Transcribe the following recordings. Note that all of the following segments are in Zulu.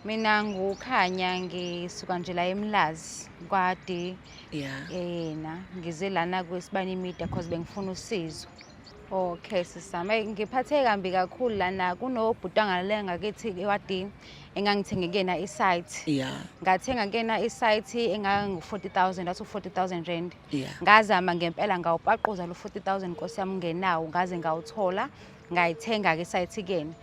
mina ngukhanya ngisuka nje la emlazi kwade yeah. yena ngize lana kwesibani media cause bengifuna usizo okay sisame ngiphatheke kambi kakhulu lana kunobhuti angalale ngakithi ewadini engangithenge kuyena isite yeah. ngathenga kuyena isite engangu-forty thousand athi u-forty thousand rand yeah. ngazama ngempela ngawupaquza lo forty thousand nkosi yami ngenawo ngaze ngawuthola ngayithenga-ke isite kuyena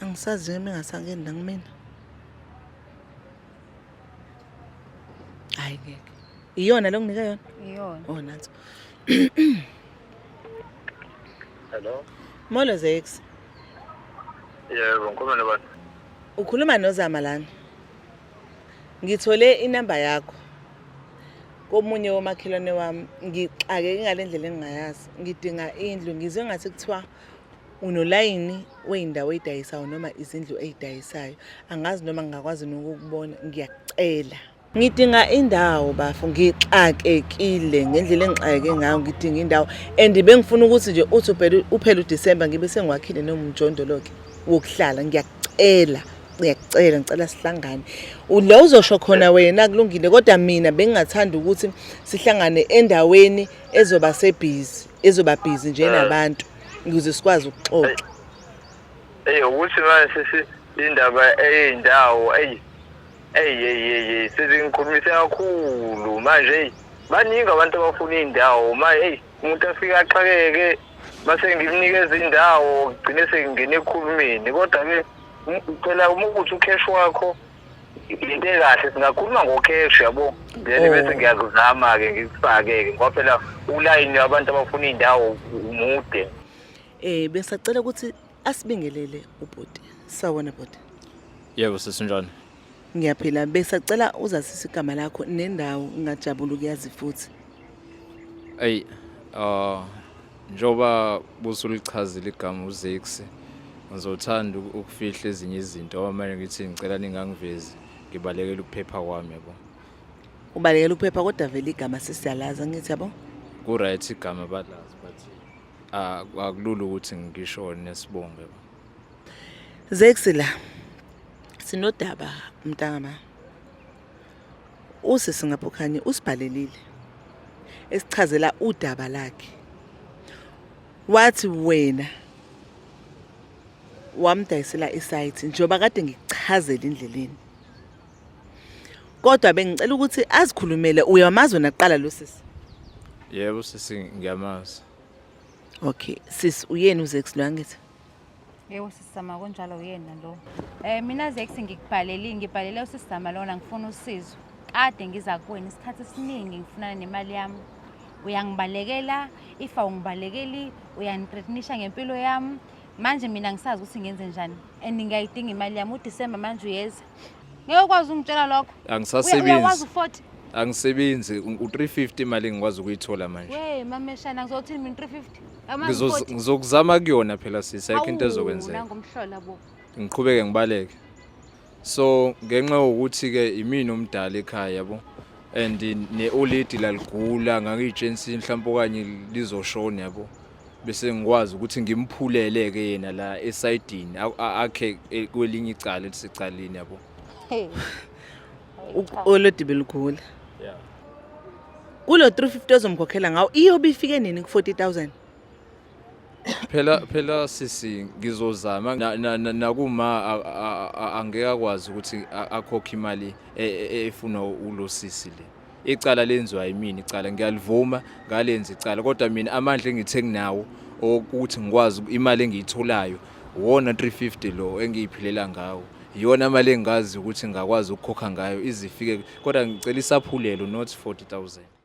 angisazi noma engasangeni la kumina hayi ngeke iyona lo nginika yona iyona oh nansi hello molo zex yebo ngikhuluma nobani ukhuluma nozama lana Ngithole inamba yakho komunye womakhelwane wami ngixakeke ngale ndlela engingayazi ngidinga indlu ngizwe ngathi kuthiwa unolayini wey'ndawo ey'dayisayo noma izindlu ey'dayisayo angazi noma ngingakwazi nokukubona ngiyakucela ngidinga indawo bafo ngixakekile ngendlela engixakeke ngayo ngidinga indawo and bengifuna ukuthi nje uthi uphele udisemba ngibe sengiwakhile nomjondolo-ke wokuhlala ngiyakucela ngiyakucela ngicela sihlangane ula uzosho khona wena kulungile kodwa mina bengingathanda ukuthi sihlangane endaweni ezoba sebhizi ezoba bhizi nje nabantu ukuze sikwazi ukuxoxa hey ukuthi manje sisi indaba eyindawo hey hey hey hey sizingikhulumise kakhulu manje hey baningi abantu abafuna indawo manje hey umuntu afike axakeke mase ngimnikeza indawo gcine sengingena ekhulumeni kodwa-ke ngicela uma ukuthi ukheshi wakho into ekahle singakhuluma ngokheshi yabo then oh. bese ngiyakuzama-ke ngikufake-ke ngoba phela ulayini wabantu abafuna iy'ndawo umude um besacela ukuthi asibingelele ubhuti sawona bhuti yebo sesinjani Ngiyaphila besacela uzazisa igama lakho nendawo ngingajabula ukuyazi futhi. Ey uh njoba busulichazile igama uZex ngizothanda ukufihla ezinye izinto ngoba manje ngithi ngicela ningangivezi ngibalekela ukuphepha kwami yabo. Ubalekela ukuphepha kodwa vele igama sesiyalaza ngithi yabo. Ku right igama balazi but akulula ukuthi ngishone nesibongo yabo. Zexi la sinodaba mntangama usisi ngaphokhanye usibhalelile esichazela udaba lakhe wathi wena wamdayisela isite njengoba kade ngikuchazela indleleni kodwa bengicela ukuthi azikhulumele uyamazi wena kuqala lo sisi yebo sisi ngiyamazi Okay, sis uyena uZex lo angithi? Yebo sisizama kunjalo uyena lo. Eh mina Zex ngikubhaleli ngibhalele usisizama lona ngifuna usizo. Kade ngiza kuwena isikhathi esiningi ngifuna nemali yami. Uyangibalekela ifa ungibalekeli uyangithreatenisha ngempilo yami. Manje mina ngisazi ukuthi ngenze njani and ngiyayidinga imali yami uDecember manje uyeza. ngeke ukwazi ungitshela lokho angisasebenzi angisebenzi u-350 imali engikwazi ukuyithola manje we mameshana ngizothini mina 350 ngizokuzama kuyona phela sisi ayikho into ezokwenzeka ngiqhubeke ngibaleke so ngenxa yokuthi-ke imina omdala ekhaya yabo and ne-oledi laligula ngangiyitshensini mhlawumpe okanye lizoshona yabo bese ngikwazi ukuthi ngimphulele ke yena la esayidini akhe e, kwelinye icala elisecaleni yabo olodibe lukhula kulo 350 ozomkhokhela ngawo iyobe ifike nini ku 40000 phela phela sisi ngizozama nakuma angeke akwazi ukuthi akhokhe imali e, e, efunwa ulo sisi le icala lenziwa yimina icala ngiyalivuma ngalenza icala kodwa mina amandla engithe nginawo okuthi ngikwazi imali engiyitholayo wona 350 lo engiyiphilela ngawo iyona imali engazi ukuthi ngakwazi ukukhokha ngayo izifike kodwa ngicela isaphulelo not 40000